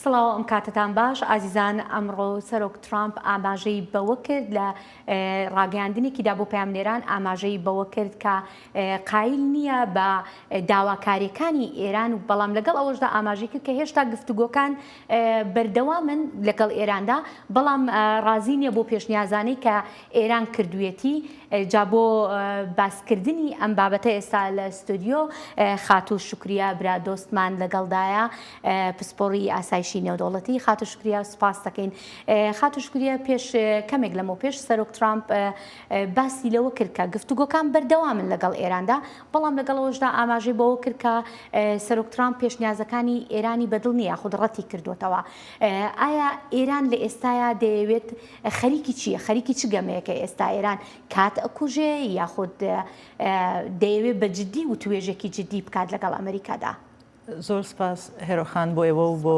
سڵاو ئەم کاتتان باش ئازیزان ئەمڕۆ سەرۆک ترامپ ئاماژەی بەوە کرد لە ڕاگەاندنێکیدا بۆ پامنێران ئاماژەی بەوە کرد کە قایل نییە بە داواکاریەکانی ئێران و بەڵام لەگەڵ ئەوەشدا ئاماژی کرد کە هێشتا گفتوگۆکان بەردەوامن لەگەڵ ئێراندا بەڵام ڕازی نییە بۆ پێشنیازانەی کە ئێران کردویەتی جا بۆ باس کردنی ئەم بابەتە ئێستا لە ستۆدیۆ خاتوو شوکریا برا دۆستمان لەگەڵدایە پسپۆڕی ئاسایشی نێودەوڵەتی خاتوو شکریا سوپاس دەکەین خاتوو شکریا پێش کەمێک لەمەوە پێش سەرۆک ترامپ باسی لەوە کرد کە گفتوگۆکان بەردەوامن لەگەڵ ئێراندا بەڵام لەگەڵەوەشدا ئاماژەی بەوە کرد کە سەرۆک ترامپ پێشنیازەکانی ئێرانی بەدڵ نییە خود ڕەتی کردوتەوە ئایا ئێران لە ئێستایا دەیەوێت خەریکی چیە خەریکی چ گەمەیەکە ئێستا ئێران کات ئەکوژێ یاخود دەیەوێ بە جدی وتوێژێکی جدی بکات لەگەڵ ئەمریکادا. زۆر سپاس هێرۆ خان بۆ ئێوە و بۆ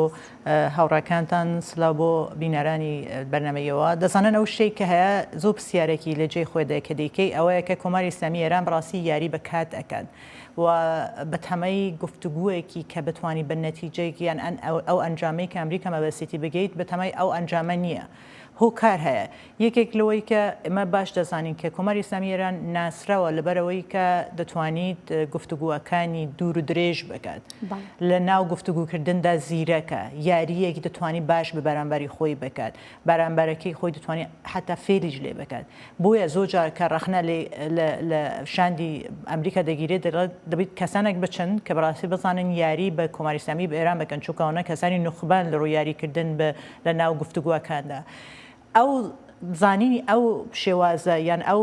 هاوڕێکانتان سلاو بۆ بینەرانی بەرنامەی ئێوە دەزانن ئەو شتەی کە هەیە زۆر پرسیارێکی لە جێی خۆی دای کە دەیکەی ئەوەیە کە کۆماری ئیسلامی ئێران بەڕاستی یاری بە کات ئەکات و بەتەمای گفتوگویەکی کە بتوانی بە نەتیجەیەک یان ئەو ئەنجامەی کە ئەمریکا مەبەستیتی بگەیت بەتەمای ئەو ئەنجامە نیە هۆکار هەیە یەکێک لەوەی کە ئێمە باش دەزانین کە کۆماری ئیسلامی ئێران ناسراوە لەبەرئەوەی کە دەتوانیت گفتوگوەکانی دوور و درێژ بکات لە ناو گفتوگوکردندا زیرەکە یاریەک دەتوانی باش بە بەرامبەری خۆی بکات بەرامبەرەکەی خۆی دەتوانێت حەتا فێریش لێ بکات بۆیە زۆر جار کە ڕەخنە لە شاندی ئەمریکا دەگیرێت دەڵێت دەبیت کەسانێک بچن کە بەڕاستی بزانن یاری بە کۆماری ئیسلامی بە ئێران بکەن چونکە ئەوانە کەسانی نوخبەن لە ڕووی یاریکردن بە لە ناو گفتوگۆکاندا ئەو زانینی ئەو شێوازە یان ئەو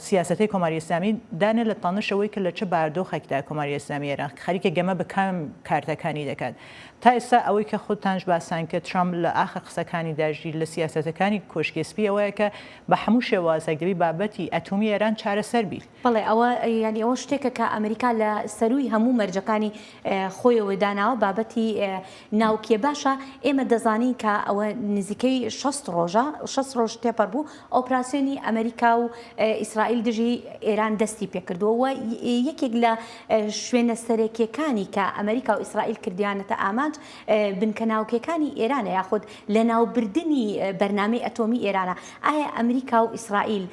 سیاسەتی کۆماری ئیسلامی دانێ لە تەنشەوەی کە لە چه باردۆخێکدا کۆماری ئیسلامی ئێران خەریکە گەمە بە کام کارتەکانی دەکات تا ئێستا ئەوەی کە خودتانش باسان کرد ترامپ لە ئاخر قسەکانی دا ژیر لە سیاسەتەکانی کۆشکی سپی ئەوەیە کە بە حەموو شێوازێک دەبی بابەتی ئەتومی ئێران چارەسەر بیت. بەڵێ ئەوە یانی ئەوە شتێکە کە ئەمریکا لە سەرووی هەموو مەرجەکانی خۆیەوە داناوە بابەتی ناوکیە باشە ئێمە دەزانین کە ئەوە نزیکەی شەست ڕۆژە شەست ڕۆژ تێپەر بوو ئۆپراسیۆنی ئەمریکا و ئیسرائیل دژی ئێران دەستی پێکردووە و یەکێک لە شوێنە سەرەکیەکانی کە ئەمریکا و ئیسرائیل کردیانەتە ئامانج بنکە ناوکیەکانی ئێرانە یاخود لە ناوبردنی بەرنامەی ئەتۆمی ئێرانە ئایا ئەمریکا و ئیسرائیل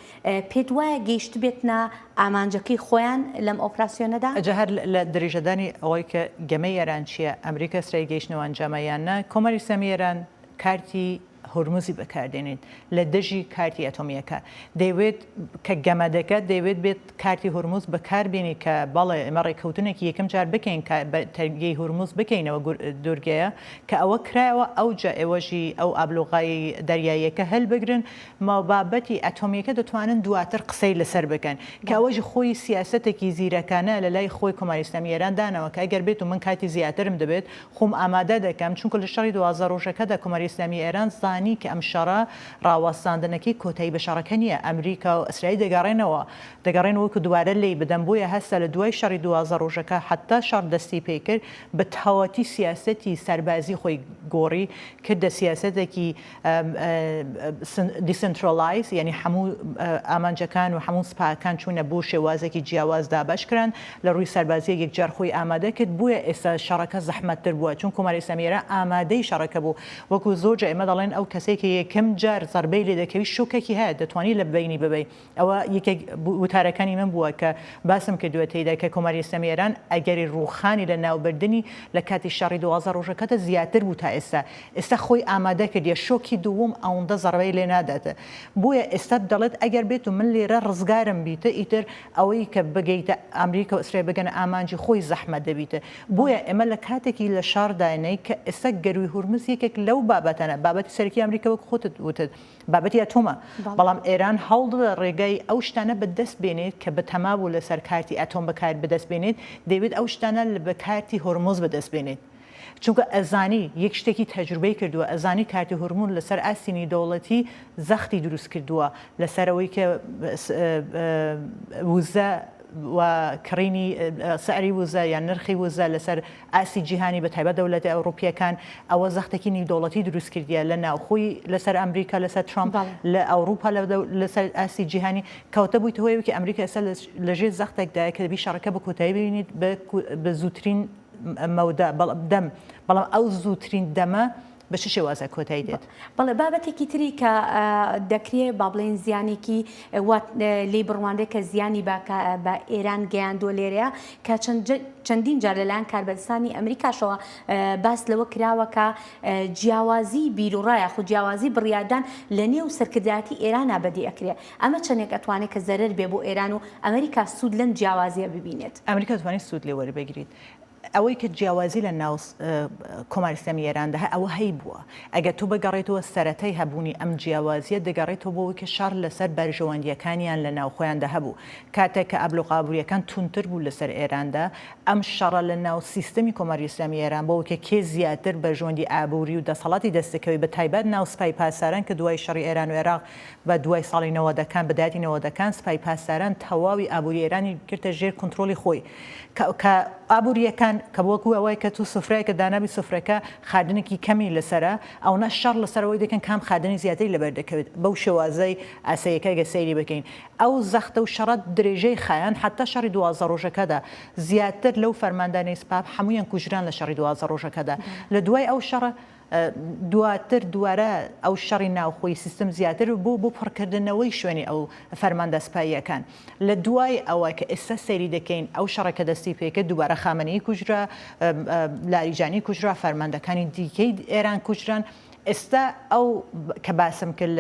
پێت وایە گەیشتبێتنە ئامانجەکەی خۆیان لەم ئۆپراسیۆنەدا؟ ئەجا هەر لە دریژەدانی ئەوەی کە گەمەی ئێران چیە، ئەمریکا ئیسرائیل گەیشتنەوە ئەنجامە یان نا، کۆماری ئیسلامی ئێران کارتی هورمزی بەکاردێنیت لە دژی کارتی ئەتۆمییەکە دەیەوێت کە گەمەدەکە دەیەوێت بێت کارتی هورمز بەکار بێنی کە بەڵێ ئێمە ڕێکەوتنێکی یەکەم جار بکەین کە تەرگەی هورمز بکەینەوە دوورگەیە کە ئەوە کرایەوە ئەوجە ئێوەژی ئەو ئابلۆغای دەریاییەکە هەلبگرن مەبابەتی ئەتۆمییەکە دەتوانن دواتر قسەی لەسەر بکەن کە ئەوەژی خۆی سیاسەتێکی زیرەکانە لەلای خۆی کۆماری ئیسلامی ئێران دانەوە کە ئەگەر بێت و من کاتی زیاترم دەبێت خۆم ئامادە دەکەم، چونکە لە شەڕی دوازدە ڕۆژەکەدا کۆماری ئیسلامیی ئێران زانی کە ئەم شەڕە ڕاوەستاندنەکەی کۆتایی بە شەڕەکە نییە، ئەمریکا و ئیسرائیل دەگەڕێنەوە، دەگەڕێنەوە کە دووبارە لێی بدەن، بۆیە هەستا لە دوای شەڕی دوازدە ڕۆژەکە هەتا شەڕ دەستی پێ کرد بە تەواوەتی سیاسەتی سەربازیی خۆی گۆڕی، کردە سیاسەتێکی. دیسنترۆلایز یانی هەموو ئامانجەکان و هەموو سپاکان چوونە بۆ شێوازێکی جیاواز دابەش کران لە ڕووی سەربازیە یەکجار خۆی ئامادە کرد بویە ئێستا شەڕەکە زەحمەتتر بووە چون کۆماری ئیسلامی ئێران ئامادەی شەڕەکە بوو وەکو زۆر جا ئێمە دەڵێن ئەو کەسەی کە یەکەم جار زەربەی لێ دەکەوی شوکەکی هەیە دەتوانی لە بەینی ببەی ئەوە یەکێک وتارەکانی من بووە کە باسم کردووە تێیدا کە کۆماری ئیسلامی ئێران ئەگەری ڕووخانی لە ناوبردنی لە کاتی شەڕی دوازدە ڕۆژەکەدا زیاتر بوو تا ئێستا ئێستا خۆی ئامادە کردیە شۆکی دووم ئەوندە زەڕبەی لێ نادات بۆیە ئێستا دەڵێت ئەگەر بێت و من لێرە ڕزگارم بیت ئیتر ئەوەی کە بگەیتە ئامریکا و ئیسرائیل بگەنە ئامانجی خۆی زەحمەت دەبیت بۆیە ئێمە لە کاتێکی لە شاڕداینەی کە ئێستا گەرووی هورمز یەکێک لەو بابەتانە بابەتی سەرەکی ئامریکا وەک خۆتت وتت بابەتی ئەتۆمە، بەڵام ئێران هەوڵدەدات ڕێگای ئەو شتانە بە دەست بێنێت کە بەتەما بوو لەسەر کارتی ئەتۆم بە کار بە دەست بێنێت، دەیەوێت ئەو شتانە لە بە کارتی هۆرمۆز بە دەست بێنێت. چونکە ئەزانی یەک شتێکی تەجروبەی کردووە، ئەزانی کارتی هۆرمون لەسەر ئاستی نیودەوڵەتی زەختی دروست کردووە لەسەر ئەوەی کە وزە و کڕینی سعری وزە یان نرخی وزە لەسەر ئاستی جیهانی بە تایبەت دەولەتە ئەوروپیەکان ئەوە زەختەکی نیودەوڵەتی دروست کردیە لە ناوخۆی لەسەر ئەمریکا لەسەر ترامپ لە ئەوروپا لەسەر ئاستی جیهانی کەوتە بویتە هۆی ئەوەی ئەمریکا ئێستا لە ژێر زەختێکدایە کە دەبی شەڕەکە بە کۆتایی بینیت بە زوترین مەودا بەڵام دەم بەڵام ئەو زوترین دەمە بە چ شێوازێک کۆتایی دێت؟ بەڵێ بابەتێکی تری کە دەکرێ با بڵێن زیانێکی وا لێی بڕوانرێت کە زیانی با کە بە ئێران گەیاندووە لێرەیە کە چەند جە- چەندین جار لەلایەن کاربەدەستانی ئەمریکاشەوە اه، باس لەوە کراوە کە اه، جیاوازی بیروڕا یاخود جیاوازی بڕیاردان لە نێو سەرکردایەتی ئێرانا بەدی ئەکرێ. ئەمە چەندێک ئەتوانێ کە زەرەر بێ بۆ ئێران و ئەمریکا سوود لەم جیاوازییە ببینێت؟ ئەمریکا دەتوانێت سوود لێ وەربگریت. ئەوەی کە جیاوازی لە ناو کۆماری ئیسلامی ئێراندا هەیە ئەوە هەیبووە. ئەگەر تۆ بگەڕێیتەوە سەرەتای هەبوونی ئەم جیاوازییە دەگەڕێیتەوە بۆ ئەوەی کە شەڕ لەسەر بەرژەوەندییەکانیان لە ناو خۆیاندا هەبوو. کاتێک کە ئابلوقە ئابوورییەکان توندتر بوو لە سەر ئێراندا، ئەم شەڕە لە ناو سیستەمی کۆماری ئیسلامی ئێران بۆ ئەوەی کە کێ زیاتر بەرژەوەندی ئابووری و دەسەڵاتی دەستبکەوێت بە تایبەت ناو سپای پاسداران کە دوای شەڕی ئێران و عێراق بە دوای ساڵی نەوەدەکان بە دایەتی نەوەدەکان سپای پاسداران تەواوی ئابووری ئێرانی گرتە ژێر کونترۆڵی خۆی کە کە ئابوورییەکان کە وەکوو ئەوەی کە تو سفرەیەکە دانابی سفرەکە خادنێکی کەمی لەسەرە ئەوەنە شەڕ لەسەر ئەوەی دەکەن کام خادنی زیاتری لەبەر دەکەوێت بەو شێوازەی ئاسەیەکە گەر سەیری بکەین ئەو زەختە و شەڕە درێژەی خایاند حەتا شەڕی دوازدە ڕۆژەکەدا زیاتر لەو فەرماندانەی سپا هەموویان کوژران لە شەڕی دوازدە ڕۆژەکەدا لە دوای ئەو شەڕە دواتر دووارە ئەو شەڕی ناوخۆی سیستم زیاتر بوو بۆ پڕکردنەوەی شوێنی ئەو فەرماندە سپاییەکان لە دوای ئەوە کە ئێستا سەیری دەکەین ئەو شەڕە کە دەستی پێکرد دووبارە خامەنەیی کوژرا لاریجانی کوژرا فەرماندەکانی دیکەی ئێران کوژران ئێستا ئەو کە باسم کرد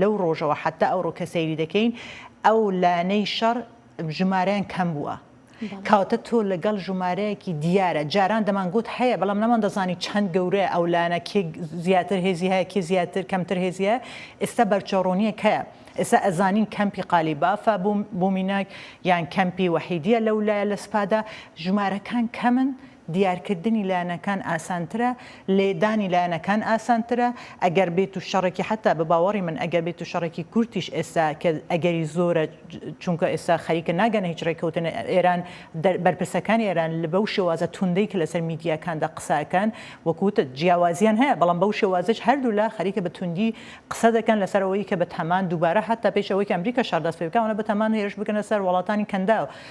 لەو ڕۆژەوە حتا ئەوڕۆ کە سەیری دەکەین ئەو لانەی شەڕ ژمارەیان کەم بووە. کەواتە تۆ لەگەڵ ژومارەیەکی دیارە جاران دەمانگوت هەیە بەڵام نەماندەزانی چەند گەورەیە ئەو لایەنە کێ زیاتر هێزی هەیە کێ زیاتر کەمتر هێزی هەیە ئێستا بەرچەو ڕوونیەک هەیە ئێستا ئەزانین کەمپی قالیبافە بومیناک یان کەمپی وەحیدیە لەولایە لە سوپادا ژومارەکان کەمن دیارکردنی لایەنەکان ئاسانترە، لێدانی لایەنەکان ئاسانترە، ئەگەر بێت و شەڕێکی حەتا بە باوەڕی من ئەگەر بێت و شەڕێکی کورتیش ئێستا کە ئەگەری زۆرە چونکە ئێستا خەریکە ناگەنە هیچ رێککەوتن ئێران بەرپرسەکانی ئێران بەو شێوازە توندەی کە لەسەر میدیاکاندا قسە ئەکەن وەک وتت جیاوازیان هەیە بەڵام بەو شێوازەش هەردوولا خەریکە بە توندی قسە دەکەن لەسەر ئەوەی کە بەتامان دووبارە حەتا پێش ئەوەی کە ئەمریکا شەڕ دەست پێ بکات ئەوانە بەتامان هێرش بکەنە سەر وڵاتانی کەنداو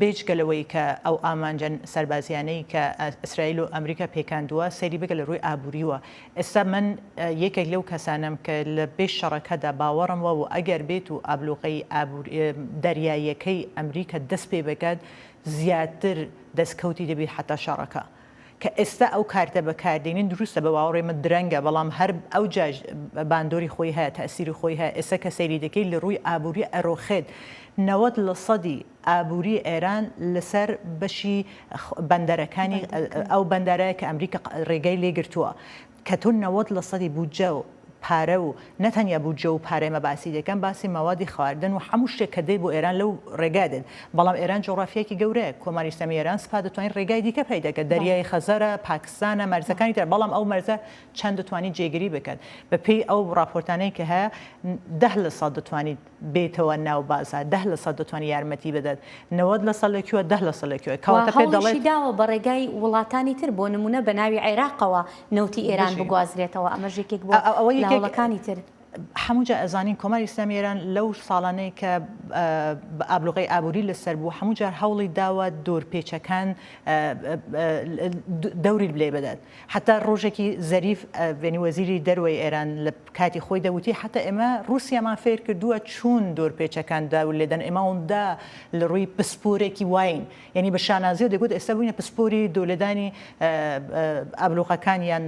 بێجگە لەوەی کە ئەو ئامانجە سەربازییانەی کە ئیسرائیل و ئەمریکا پێکاندووە، سەیری بکە لە ڕووی ئابوورییەوە. ئێستا من یەکێک لەو کەسانەم کە لە بێ شەڕەکەدا باوەڕم وە و ئەگەر بێت و ئابلوقەی ئابووری، دەریاییەکەی ئەمریکا دەست پێ بکات، زیاتر دەستکەوتی دەبێت حەتا شەڕەکە. کە ئێستا ئەو کارتە بەکاردێنین دروستە بە باوەڕی من درەنگە بەڵام هەر ئەو جاش باندۆری خۆی هەیە تەئسیری خۆی هەیە ئێستا کە سەیری دەکەی لە ڕووی ئابووری ئەرۆخێت نەوەد لە سەدی ئابووری ئێران لە سەر بەشی بەندەرەکانی ئەو بەندەرە کە ئەمریکا ڕێگای لێ گرتووە کە تۆ نەوەد لە سەدی بودجە و پارە و نە تەنیا بودجە و پارەی ئەمە باسی دەکەن باسی مەوادی خواردن و حەموو شتێک کە دێت بۆ ئێران لەو ڕێگا دێت بەڵام ئێران جوغرافیایەکی گەورەیە کۆماری ئیسلامی ئێران سپا دەتوانیت ڕێگای دیکە پەیدا کە دەریای خەزەرە پاکستانە مەرزەکانی تر بەڵام ئەو مەرزە چەند دەتوانیت جێگری بکەت بە پێی ئەو ڕاپۆرتانەی کە هەیە دە لە سەد دەتوانیت بێیتەوە ناو بازار دە لە سەد دەتوانێت یارمەتی بدات نەوەد لە سەد لە کوێ دە لە سەد لە کوێ و کەواتە پێت دەڵێت هەوڵیشی داوە بە ڕێگای وڵاتانی تر بۆ نموونە بە ناوی عێراقەوە نەوتی ئێران بژی. بگوازرێتەوە ئەمەش یەکێک بووە ئە- ئەوە لە یەکێک هەوڵەکانی تر. هەموو جا ئەزانین کۆماری ئیسلامی ئێران لەو ساڵانەی کە ئە، بە ئابلوقەی ئابووری لە سەر بوو هەموو جار هەوڵی داوە دۆر پێچەکان ئە، ئە، ئە، دەوری لێ بدات. حەتا ڕۆژێکی زەریف ڤێنی وەزیری دەروەی ئێران لە کاتی خۆیدا وتی حەتا ئێمە ڕووسیامان فێر کردووە چوون دۆر پێچەکان داو لێدەن ئێمە ئەوندا لە ڕووی پسپۆرێکی واین یانی بە شانازیەوە دەگوت ئێستا بووینە پسپۆری دۆ لێدانی ئابلۆقەکان یان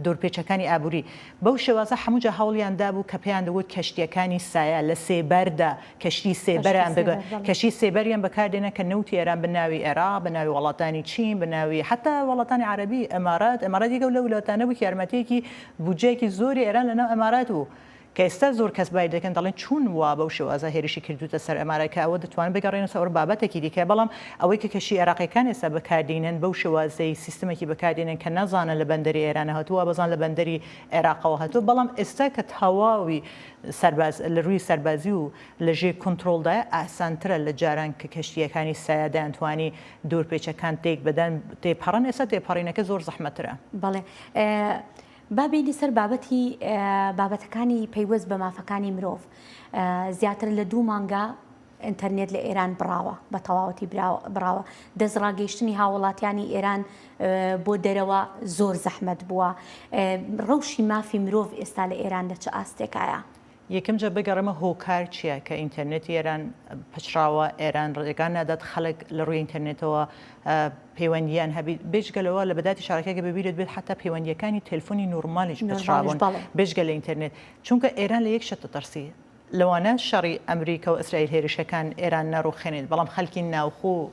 دۆر پێچەکانی ئابووری بەو شێوازە حەموو جا هەوڵیان دابوو کە پێیان دەگوت کەشتیەکانی سایە لە سێبەردا کەشتی سێبەران بە کەشتی سێبەریان بەکاردێنن کە نەوتی ئێران بە ناوی ئێراق بە ناوی وەڵاتانی چین بە ناوی حەتا وەڵاتانی عەرەبی ئەمارات ئەمارات یەکێک لەو ولاوتانە بوو کە یارمەتیەکی بودجەیەکی زۆری ئێران لە ناو ئەمارات بوو کە ئێستا زۆر کەس بای دەکەن دەڵێن چون وا بەو شێوازە هێرشی کردووتە سەر ئەمارات کە ئەوە دەتوانن بگەڕێنە سەر بابەتێکی دیکە بەڵام ئەوەی کە کەشتی ئێراقیەکان ئێستا بەکاردینن بەو شێوازەی سیستمەکی بەکاردێنن کە نازانن لە بەندەری ئێرانە هاتووە وابزان لە بەندەری ئێراقەوە هاتووە بەڵام ئێستا کە تەواوی سەرباز لە رووی سەربازی و لە ژێ کونترۆڵدایە ئاسانترە لە جاران کە کەشتییەکانی سایە دەیانتوانی دور پێچە کان تێک بدەن تێپەڕن ئێستا تێپەڕینەکە زۆر زەحمەترە. بەڵێ با بێینە سەر بابەتی بابەتەکانی پەیوەست بە مافەکانی مرۆڤ زیاتر لە دوو مانگە ئینتەرنێت لە ئێران بڕاوە، بە تەواوەتی بڕاوە. دەستڕاگەیشتنی هاووڵاتیانی ئێران بۆ دەرەوە زۆر زەحمەت بووە. ڕەوشی مافی مرۆڤ ئێستا لە ئێران لە چ ئاستێکایە؟ یەکەم جار بگەڕێمە هۆکار چییە کە ئینتەرنێتی ئێران پچڕاوە، ئێران ڕێگا نادات خەڵک لە ڕووی ئینتەرنێتەوە پەیوەندییان هەبیت، بێجگەلە وا لە بەداتی شارەکە گەر ببیرت بێت حەتا پەیوەندییەکانی تێلفۆنی نۆرمالیش پچڕابوون بێجگە لە ئینتەرنێت، چونکە ئێران لە یەک شت دەترسی، لەوانە شەڕی ئەمریکا و ئیسرائیل هێرشەکان ئێران نەڕوخێنێت بەڵام خەلکی ناوخۆ و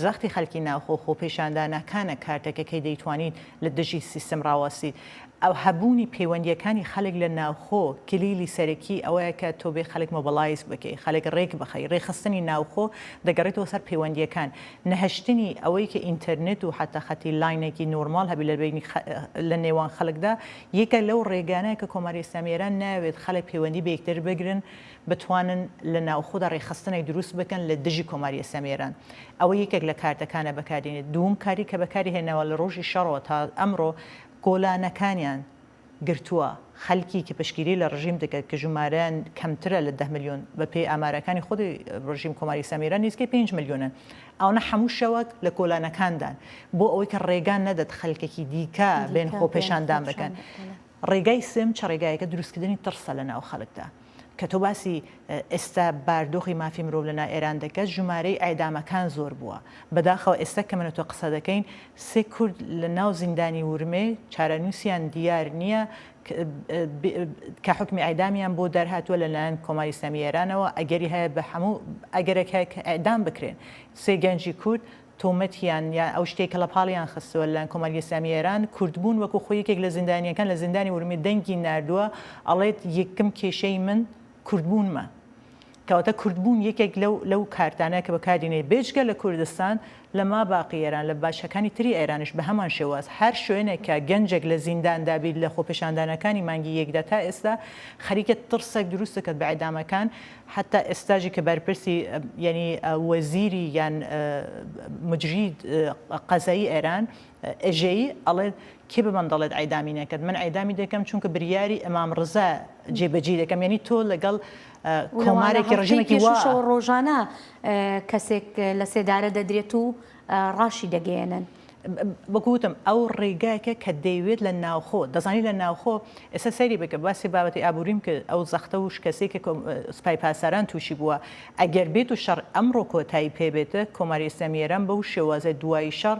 زەختی خەلکی ناوخۆ و خۆپیشانداناکانە کارتەکە کەی دەیتوانیت لە دژی سیستم ڕاوەستیت ئەو هەبوونی پەیوەندیەکانی خەلک لە ناوخۆ کلیلی سەرەکی ئەوەیە کە تۆ بێ خەلک مۆبەڵایز بکەی خەلک ڕێک بخەی ڕێکخستنی ناوخۆ دەگەڕێتەوە سەر پەیوەندیەکان نەهەشتنی ئەوەی کە ئینتەرنێت و حەتا خەتی لاینێکی نۆرماڵ هەبی لە بەینی لە نێوان خەلکدا یەکێک لەو ڕێگانە کە کۆماری ئیسلامی ئێران نایەوێت خەڵک پەیوەندی بە یەکتر بگرن بتوانن لە ناوخۆدا ڕێکخستنێک دروست بکەن لە دژی کۆماری ئیسلامی ئێران ئەوە یەکێک لە کارتەکانە بەکاردێنێت دووم کاری کە بەکاری هێناوە لە ڕۆژی شەڕەوە تا ئەمڕۆ کۆلانەکانیان گرتووە خەلکی کە پشتگیری لە ڕژیم دەکەت کە ژومارەیان کەمترە لە دە ملیۆن بە پێی ئامارەکانی خودی ڕژیم کۆماری ئیسلامی ئێران نیزکەی پێنج ملیۆنن ئەونە حەموو شەوەک لە کۆلانەکاندان بۆ ئەوەی کە ڕێگا نەدەت خەلکەکی دیکە بێن خۆ پێشاندان بەکەن ڕێگای سێم چە ڕێگایەکە دروستکردنی تڕسە لە ناو خەلکدا کە تۆ باسی ئێستا باردۆخی مافی مرۆڤ لە نا ئێران دەکەت ژمارەی ئێدامەکان زۆر بووە بەداخەوە ئێستا کە منە تۆ قسە دەکەین سێ کورد لە ناو زیندانی ورمێ چارەنووسیان دیار نییە کە حوکمی ئیعدامیان بۆ دەرهاتووە لەلایەن کۆماری ئیسلامی ئێرانەوە، ئەگەری هەیە بە هەموو ئەگەرێک هەیە کە ئیعدام بکرێن سێ گەنجی کورد، تۆمەتیان یان ئەو شتەی کە لەپاڵیان خستووە لەلایەن کۆماری ئیسلامی ئێران کوردبوون، وەکو خۆی یەکێک لە زیندانییەکان لە زیندانی ورمێ دەنگی ناردووە ئەڵێت، یەکم کێشەی من کوردبوونمە. کەواتە کوردبوون یەکێک لەو لەو کارتانە کە بەکاردینێ بێجگە لە کوردستان لە ماباقی ئێران لە باچکەکانی تری ئێرانیش بە هەمان شێواز هەر شوێنێک کە گەنجێک لە زیندان دابیت لە خۆپێشاندانەکانی مانگی یەکدا تا ئێستا خەریکە تڕسێک دروست دەکەت بە ئێدامەکان حەتا ئێستاژی کە بەرپرسی یەنی وەزیری یان مجری قەزایی ئێران ئێژەیی ئەڵێت کێ بەمن دەڵێت عیدامی نەکرد من عیدامی دەکەم چونکە بریاری امام رزا جێ بەجی دەکەم یعنی تۆ لەگەڵ کۆمارێکی رژیمێکی وا رۆژانە کەسێک لە سێدارە دەدرێت و راشی دەگەیەنن. بەگوتم ئەو ڕێگاکە کە دەیوێت لە ناوخۆ دەزانی لە ناوخۆ ئێستا سەیری بکە باسی بابەتی ئابووریم کرد ئەو زەختە و شکەسی کە سپای پاساران تووشی بووە ئەگەر بێت و شەڕ ئەمڕۆ کۆتایی پێبێتە کۆماری ئیسلامی ئێران بەو شێوازە دوایی شەڕ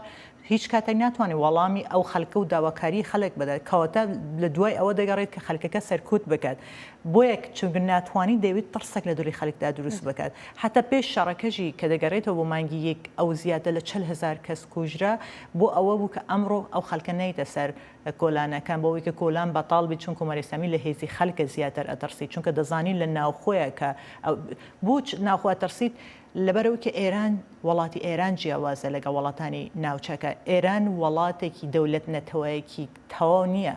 هیچ کاتێک ناتوانێت وەڵامی ئەو خەلکە و داواکاریی خەلک بدات، کەواتە لە دوای ئەوە دەگەڕێت کە خەلکەکە سەرکوت بکات، بۆیە چونکە ناتوانیت دەیەوێت تڕسێک لە دڵی خەلکدا دروست بکات، هەتا پێش شەڕەکەشی کە دەگەرێتەوە بۆ مانگی یەک ئەو زیاتر لە چل هەزار کەس کوژرا، بۆ ئەوە بوو کە ئەمڕۆ ئەو خەلکە نەیتە سەر کۆلانەکان، بۆ ئەوەی کە کۆلان بەتاڵ بیت، چون کۆماری ئیسلامی لە هێزی خەلکە زیاتر ئەتڕسیت، چونکە دەزانیت لە ناوخۆیە کە بۆچ ناوخۆ ئەتڕسیت؟ لەبەرئەوکە ئێران وەڵاتی ئێران جیاوازە لەگەڵ وەڵاتانی ناوچەکە، ئێران وەڵاتێکی دەولەت نەتەوەیەکی تەواو نیە،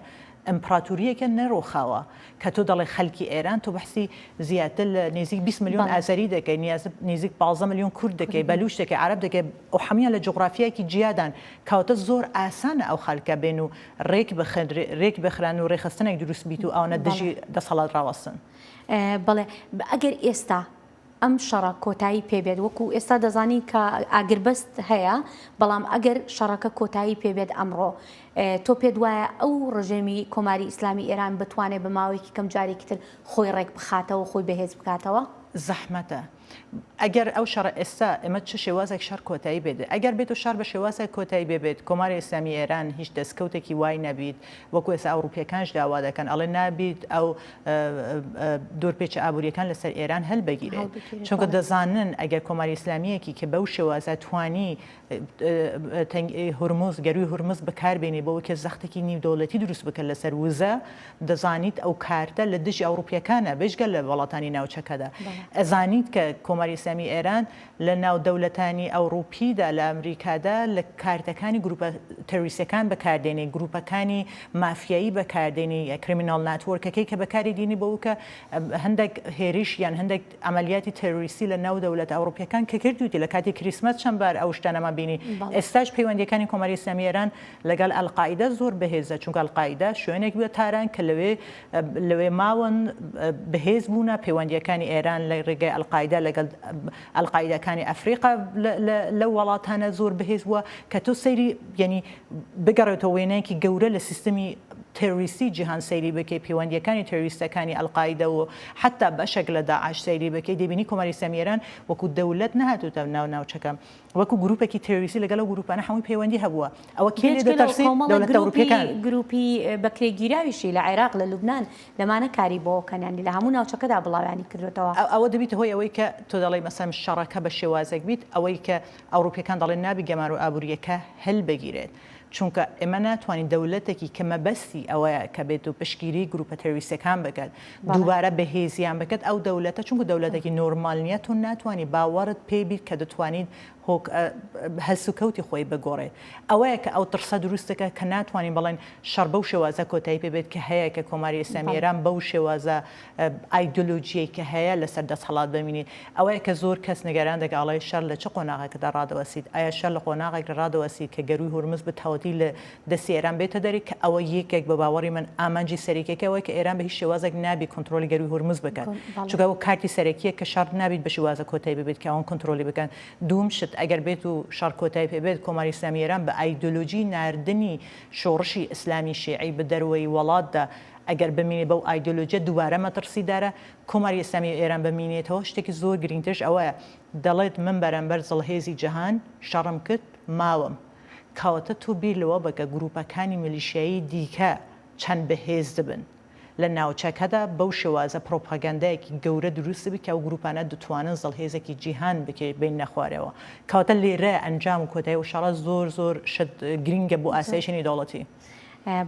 ئمپڕاتوریەکە نەرۆخاوە، کە تۆ دەڵێ خەلکی ئێران تۆ بەحسی زیاتر لە نیزیک بیست ملیۆن ئازەری دەکەی نیاز نیزیک پازدە ملیۆن کورد دەکەی بەلوچ دەکەی عەرەب دەکەی و حەمویان لە جوغرافیایەکی جیادان کەواتە زۆر ئاسانە ئەو خەلکە بێن و رێک بخن رێک بخران و رێخستنێک دروست بیت و ئەوانە دژی دەسەڵات راوەستن. بەڵێ ئەگەر ئێستا ئەم شەڕە کۆتایی پێبێت وەکو ئێستا دەزانین کە ئاگربەست هەیە بەڵام ئەگەر شەڕەکە کۆتایی پێبێت ئەمڕۆ تۆ پێت وایە ئەو ڕژێمی کۆماری ئیسلامی ئێران بتوانێت بە ماوەیەکی کەم جارێکی تر خۆی ڕێک بخاتەوە خۆی بەهێز بکاتەوە؟ زەحمەتە ئەگەر ئەو شەڕە ئێستا ئێمە چ شێوازێک شەڕ کۆتایی بێت ئەگەر بێت و شەڕ بە شێوازێک کۆتایی بێبێت کۆماری ئیسلامی ئێران هیچ دەستکەوتێکی وای نەبیت وەکو ئێستا ئەوڕوپیەکانش داوا دەکەن ئەڵێ نابیت ئەو دورپێچە ئابوریەکان لەسەر ئێران هەلبگیرێت چونکە دەزانن ئەگەر کۆماری ئیسلامیەکی کە بەو شێوازە توانی هورمز گەروی هورمز بەکاربێنی بۆ وکە زەختێکی نیودەولەتی دروست بکە لەسەر وزە دەزانیت ئەو کارتە لە دژی ئەوروپیەکانە بێژگە لە وڵاتانی ناوچەکەدا ئەزانیت کە کۆماری ئیسلامی ئێران لە ناو دەولەتانی ئەوڕوپیدا لە ئەمریکادا لە کارتەکانی گروپە ترویستەکان بەکاردێنێ گروپەکانی مافیایی بەکاردێنی کریمیناڵ ناتوۆرکەکەی کە بەکاری دینی بەوکە هەندەک هێریش یان هەندەک ئەمەلیاتی ترویستی لە ناو دەولەتە ئەوڕوپیەکان کە کردویتی لە کاتی کریسمەس چەند بار ئەو شتانەمان بینی ئێستاش پەیوەندیەکانی کۆماری ئیسلامی ئێران لەگەڵ ئەلقاعیدە زۆر بەهێزە چونکە ئەلقاعیدە شوێنێک بوە تاران کە لەوێ لەوێ ماون، بەهێز بوونە، پەیوەندییەکانی ئێران لە ڕێگای ئەلقاعیدە لەگەڵ ئەلقاعیدەکانی ئەفریقا لەو وەڵاتانە زۆر بەهێز بووە، کە تۆ سەیری یەنی بگەڕێتەوە وێنایەکی گەورە لە سیستەمی تێرۆریستی جیهان سەیری بکەی، پەیوەندییەکانی تێرۆریستەکانی ئەلقاعیدە و حەتتا بەشێک لە داعش سەیری بکەی، دەیبینی کۆماری ئیسلامی ئێران وەکوو دەولەت نەهاتووتە ناو ناوچەکە. وەکو گروپێکی ترۆریستی لەگەڵ ئەو گروپانە هەمووی پەیوەندی هەبووە ئەوە کێ لێ دەترسی دەولەتە ئەوروپیەکان گروپی بەکرێگیراویشی لە عێراق لە لوبنان لەمانە کاری بۆکەن یانی لە هەموو ناوچەکەدا بڵاویانی کردوێتەوە ئەوە دەبیتە هۆی ئەوەی کە تۆ دەڵی مەسەم شەڕەکە بە شێوازێک بیت ئەوەی کە ئەوروپیەکان دەڵێن نابی گەمارۆ ئابووریەکە هەلبگیرێت. چونکە ئێمە ناتوانین دەولەتەکی کە مەبەستی ئەوەیە کە بێت و پشتگیری گروپە ترۆریستەکان بکەت دووبارە بەهێزیان بکەت ئەو دەولەتە چونکە دەولەتەکی نۆرمال نیە تۆ ناتوانی باوەڕت پێ بیت کە دەتوانیت هۆک هەلسوکەوتی خۆی بگۆڕێت ئەوەیە کە ئەو ترسە دروست دەکات کە ناتوانین بڵێن شەڕ بەو شێوازە کۆتایی پێ بێت کە هەیە کە کۆماری ئیسلامی ئێران بەو شێوازە ئایدۆلۆژیەی کە هەیە لەسەر دەسهەڵات بمینیت ئەوەیە کە زۆر کەس نیگەران دەکات ئەڵێ شەر لە چ قۆناغێکدا ڕادەوەسیت ئایا شەر لە قۆناغێکدا ڕادەوەسیت کە گەرووی هورمز بتهاوتی لە دەستی ئێران بێتە دەرێ کە ئەوە یەکێک بە باوەڕی من ئامانجی سەرەکیەکە ئەوەیە کە ئێران بە هیچ شێوازێک نابی کۆنتڕۆڵی گەرووی هورمز بکات چونکە ئەوە کارتی سەرەکیە کە شەڕ نابیت بە شیوازە کۆتای ببێت کە ئەوان کۆنتڕۆڵی بکەن دووم شت ئەگەر بێت و شەڕ کۆتای پێ بێت کۆماری ئیسلامی ئێران بە ئایدۆلۆژی ناردنی شۆڕشی ئیسلامی شیعی بە دەروەی وەڵاتدا ئەگەر بمینێت بەو ئایدۆلۆجیە دووبارە مەتڕسیدارە، کۆماری ئیسلامی و ئێران بمینێتەوە، شتێکی زۆر گرینگترش ئەوەیە، دەڵێت من بەرامبەر زڵهێزی جەهان شەڕم کرد، ماوم. کەواتە تۆ بیر لەوە بکە گرووپەکانی میلیشیایی دیکە چەند بەهێزدبن لە ناوچەکەدا، بەو شێوازە پڕۆپاگەندایەکی گەورە درووستدبێت کە ئەو گرووپانە دتوانن زڵهێزێکی جیهان بکێبیننە خوارەوە. کەواتە لێرە ئەنجام و کۆتایی ئەو شەڕە زۆر زۆر شت گرینگە بۆ ئاسایشی نێودەوڵەتی.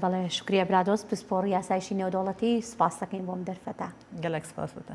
بەڵێ شوکریە برادۆست پسپۆڕی یاسایشی نێودەوڵەتی سپاستەکەین بۆم دەرفەتە گەلەک سپاستە.